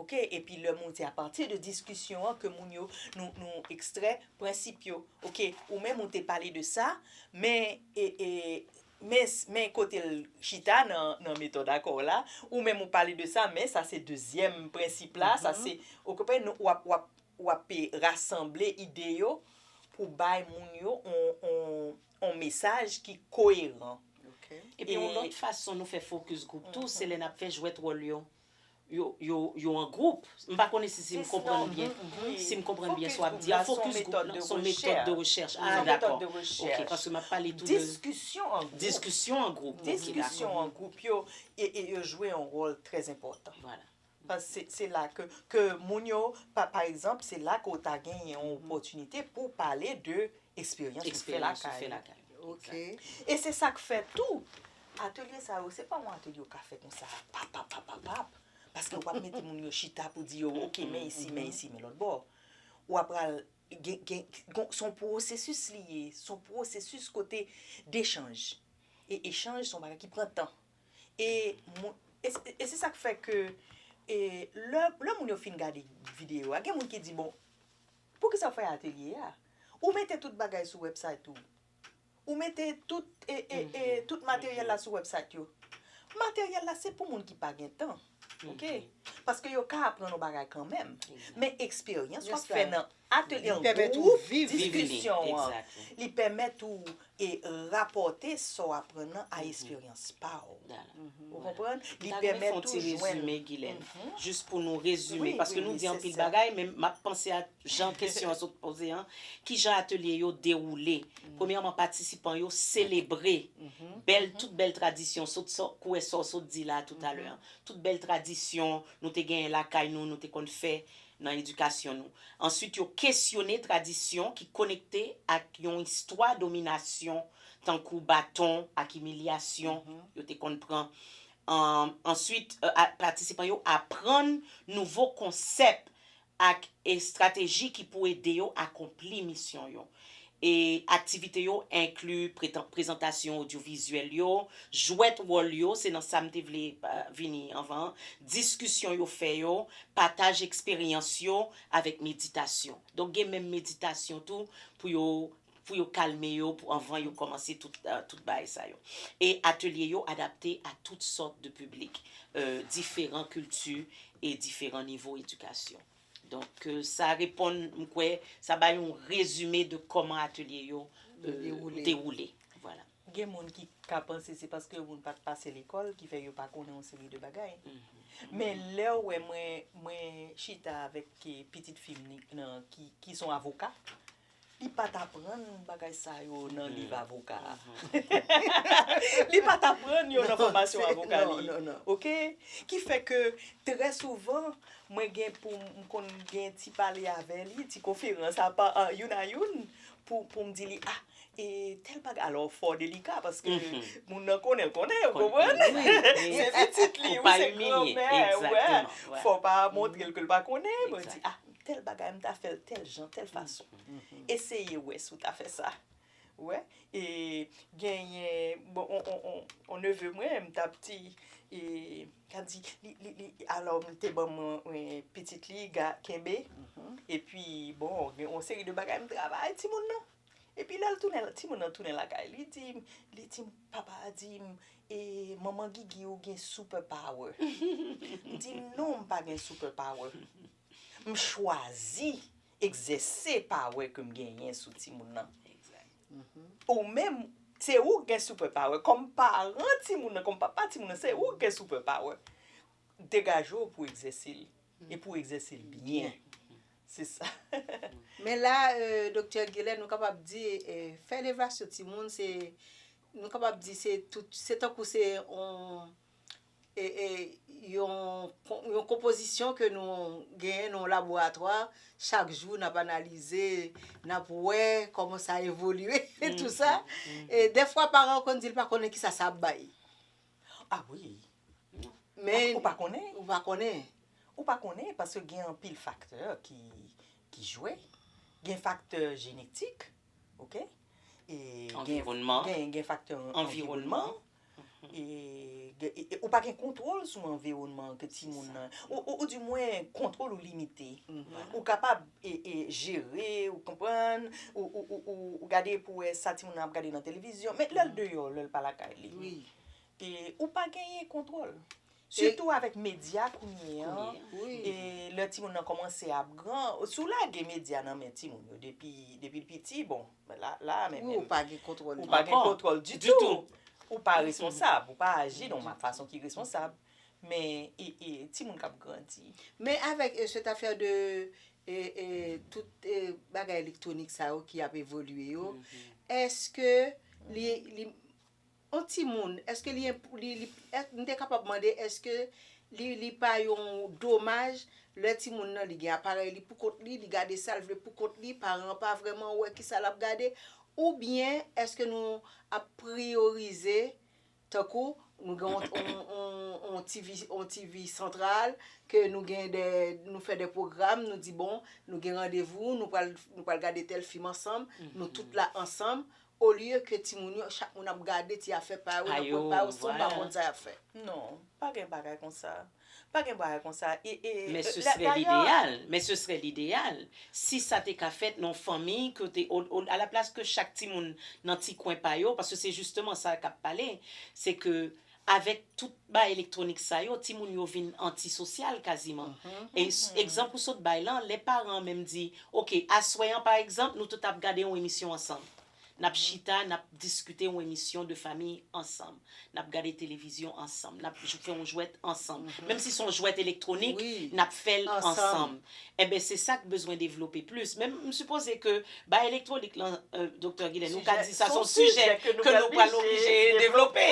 Ok epi lè moun se apati de diskisyon an ke moun yo nou nou ekstrè prensip yo ok ou menm ou te pale de sa men e e men men kotel chita nan nan metòd akò w la ou menm ou pale de sa men sa se dezyèm prensip la sa se ou konprann nou wap wap wap e rasanble ide yo pou bay moun yo on on on mesaj ki koyeran epi yon lòt fason nou fè fokis gwoup tou se lè nap fè jwèt wòl yo. yo an gwoup. M pa konnen si si m konprann byen. Si m konprann byen sa w ap di a. Fokis gwoup la s on metòd de rechèch. Ah dakò. Ok. Paske m ap pale tou de. Diskisyon an gwoup. Diskisyon an gwoup. Ok. Dakò. Diskisyon an gwoup yo jwe yon wòl trè enpòtan. Vwala. Paske se la ke moun yo pa ekzanp se la ke w ta gen yon opòtinite pou w pale de Eksperyans ou fè lakay ou. Ok. E se sa k fè tou, atelye sa yo, se pa yon atelye ou ka fè konsa pap, pap, pap, pap, pap. Paske w ap mete moun yo chita pou di yo ok men isi, men isi, men lòtbò. Ou ap pral gen, gen, gon, s on pwosesis li ye. S on pwosesis kote dechanj. E echanj s on bagay ki pran tan. E mwen, e, e se sa k fè ke e lè, lè moun yo fin gade videyo a, gen moun ki di bon, Poukisa w fè atelye a? Ou mete tout bagay sou website ou? Ou mete tout e e e tout materyèl la sou website yo? Materyèl la se pou moun ki pa gen tan ok paske yo ka aprann yon bagay kanmenm men eksperyans w ap fè nan atelye an gwoup diskisyon an li pèmèt ou E rapòte sa w aprann nan a esperyans pa w. Ou konprann? Li pèmèt tou jwenn. M ta renmen fè yon ti rezime, Gilèn. Jis pou nou rezime. Paske nou di anpil bagay, men m ap panse ak jan kesyon an sot poze an. Ki jan atelye yo dewoule? Premyèman, patisipan yo selebre bèl, tout bèl tradisyon, sot sa w, kouwè sa w sot di la toutalè an. Tout bèl tradisyon nou te genyen lakay nou, nou te konn fè. nan edikasyon nou. Answit yo kesyone tradisyon ki konekte ak yon istwa dominasyon tankou baton ak imilyasyon yo te konn pran. Answit patisipan yo aprann nouvo konsèp ak estrateji ki pou ede yo akonpli misyon yo. E aktivite yo enkli prezantasyon odyovizyèl yo, jwèt wòl yo, se nan sa m te vle vini anvan an, diskisyon yo fè yo, pataj eksperyans yo avèk meditasyon. Donk gen menm meditasyon tou pou yo pou yo kalme yo pou anvan yo kòmanse tout tout bagay sa yo. E atelye yo adapte a tout sòt de piblik, diferan kilti e diferan nivo edikasyon. Donk sa reponn, m kwè, sa bay yon rezime de kòman atelye yo dewoule. Gen moun ki ka panse se paske moun pa t pase lekòl ki fè yo pa konnen yon seri de bagay. Men lè ou wè mwen chita avèk pitit fi m ki s on avoka. Li pat aprann bagay sa yo nan liv avoka a. Li pat aprann yo nan fòmasyon avoka li. Ok? Ki fè ke trè souvan, mwen gen pou m konn gen ti pale avè li, ti konferans apa youn a youn pou m di li a e tèl bagay. Alò fò delika paske moun nan konnen l konnen, ou konprann? Se pitit li, se granmè, wè. Fò pa montre l ke l pa konnen. Mwen di a tèl bagay m ta fèl tèl jan tèl fason eseye wè si w ta fè sa wè e genyen bon on neve mwen m tap di e tap di li alò m te ban mwen pitit li ga kenbe epi bon gen on seri de bagay m travay ti moun nan epi lèl tounen ti moun nan tounen lakay li di m li di m papa a di m e manman gigi ou gen super power m di non m pa gen super power M chwazi egzèse pawe ke m genyen sou timoun nan. Ou menm, se ou ki gen super power. Kòm paran timoun nan, kòm papa timoun nan, se ou ki gen super power. Degaje w pou egzèse l. E pou w egzèse l byen. Se sa. Men la, Doktè Gilè, nou kapab di, fè levasyon timoun se, nou kapab di se tankou se yon yon konpozisyon ke nou genyen nan yon laboratwa, chak jou n ap analize, n ap wè kòman sa evolye, e tou sa. E dèfwa paran yo konn di l pa konnen kisa sa ap bay. A wi. Men. Ou pa konnen? Ou pa konnen. Ou pa konnen paske gen anpil faktè ki jwe. Gen faktè jenetik, oke. Anviwònman. Gen faktè anviwònman. Ou pa gen kontwòl sou anviwònman ke ti moun nan. Ou di mwen kontwòl ou limite. Ou kapab jere, ou konprann, ou gade pou wè sa ti moun nan ap gade nan televizyon. Men lèl deyò, lèl pa lakay li. Ou pa genyen kontwòl. Sitou avèk medya kounye an, e lè timoun nan kòmanse ap gran, si w lage medya nan men timoun yo depi l piti, bon, la a menm menm. Ou pa gen kontwòl li. Ou pa gen kontwòl ditou. Ou pa responsab, ou pa aji nan yon fason ki responsab. Men, e timoun k ap grandi? Men avèk sèt afè de tout bagay elektwonik sa yo ki ap evolye yo, èske li. On timoun, èske li enp, li, li, m te kapab mande èske li, li pa yon domaj lè timoun nan li gen aparèy li pou kont li, li gade sa l vle pou kont li, paran an pa vrèman wè kisa l ap gade, oubyen èske nou ap priyorize tankou nou gen on, on, on, on TV, on TV santral ke nou gen dè, nou fè dè pwogram, nou di bon nou gen randevou, nou pral, nou pral gade tèl fim ansanm, nou tout la ansanm, Olye ke timoun yo chak moun ap gade ti afè pa yo nan kwen pa yo san pa konn sa yap fè. Non, pa gen bagay konsa. Pa gen bagay konsa. Men se serè lideyal. Men se serè lideyal. Si sa te ka fèt nan fanmi ke te a la plas ke chak timoun nan ti kwen pa yo paske se jisteman sa kap pale se ke Avèk tout bagay elektwonik sa yo, timoun yo vin antisosyal kaziman. E egzanp ou sot bay lan, lè paran an menm di, ok, aswè an pa egzanp, nou tout ap gade yon emisyon ansanm. N ap chita, n ap diskite yon emisyon de fami ansanm. N ap gade televizyon ansanm. N ap fè yon jwèt ansanm. Menm si se yon jwèt elektwonik, n ap fè l ansanm. Enben se sa k bezwen devlope plis. Men m sipoze ke bay elektwonik lan Doktè Gilène ou ka di sa son sijè ke nou pral oblije devlope.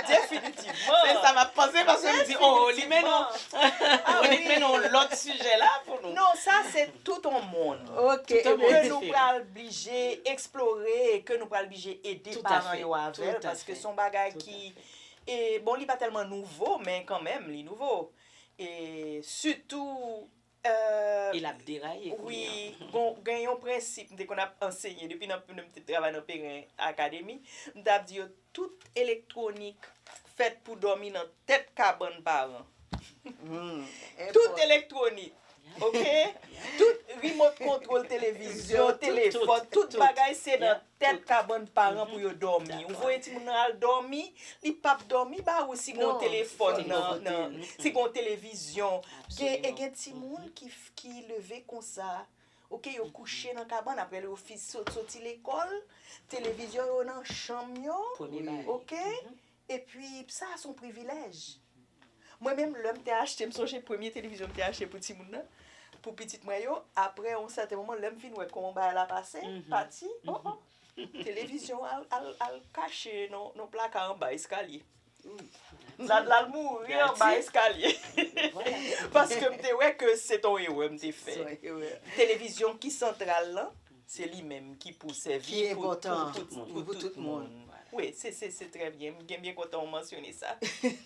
Definitivman. Se sa m ap panse paske m di oo li mennen w li mennen w lòt sijè la pou nou. Non sa se tout on mond. Ok. Ke nou pral blije eksplore e ke nou pral blije ede paran yo avè l paske son bagay ki bon li pa tèlman nouvo men kanmenm li nouvo. E sitou euh. E l ap deraye kounye an. Wi, bon gen yon prensip m te konn ap anseye depi nan m te travay nan Perrin Academy, m ta ap di yo tout elektwonik fèt pou dòmi nan tèt kabann paran. Tout elektwonik ok, tout remote control televizyon, telefòn, tout bagay se nan Tèt kabann paran pou yo dòmi. Ou voye timoun nan al dòmi, li pap dòmi ba ou si gen yon telefòn nan, si gen yon televizyon. E gen timoun ki leve konsa, ok, yo kouche nan kabann, aprè yo sot soti lekòl, televizyon yo nan chanm yo, ok. Epi sa a se yon privilèj. Mwen menm lè m te achte, m sonje premye televizyon m te achte pou timoun nan, pou pitit mwen yo, aprè yon sèten moman lè m vin wè kòman bagay la pase, pati, o o, televizyon an al kache nan plaka anba eskalye. L al mouri anba eskalye. Paske m te wè ke se te yon erè m te fè. Televizyon ki santral lan. Se li menm ki pou sèvi pou tout moun. Wi, se trè byen. M byen kontan ou mansyone sa.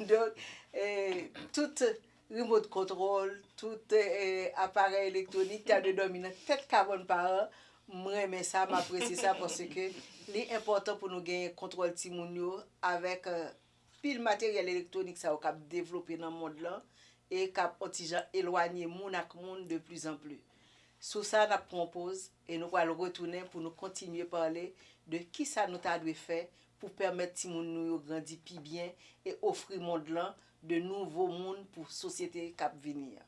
Donk, tout remote control, tout aparèy elektwonik ta dwe dòmi nan tèt kabòn paran. M renmen sa, m apresye sa paske li enpòtan pou nou genyen kontwòl timoun yo avèk Pil materyèl elektwonik sa yo k ap devlope nan mond lan e k ap on ti jan elwanye moun ak moun de pli zan pli. Sou sa n ap pran on poz e nou pral retounen pou nou kontinye pale de ki sa nou ta dwe fè pou pèmèt timoun nou yo grandi pi byen e ofri mond lan de nouvo moun pou sosyete k ap vini an.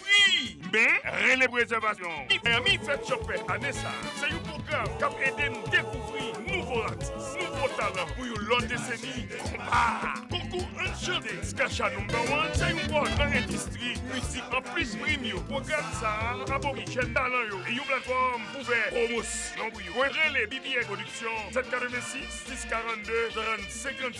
Pri Men, rele pou rezèvasyon! Mi Miami Fèt Chopè ane sa a se yon pwogram k ap ede nou dekouvri nouvo atis, nouvo talan pou yon lòt deseni. Konpa! Konkou Ann Chante Skasha Number One se yon pòt nan endistri mizik. Anplis prim yo, pwogram sa a ap ofri jèn talan yo yon platfòm pou fè pwomosyon pou yo. Mwen rele BBN Production 786 642 30 56.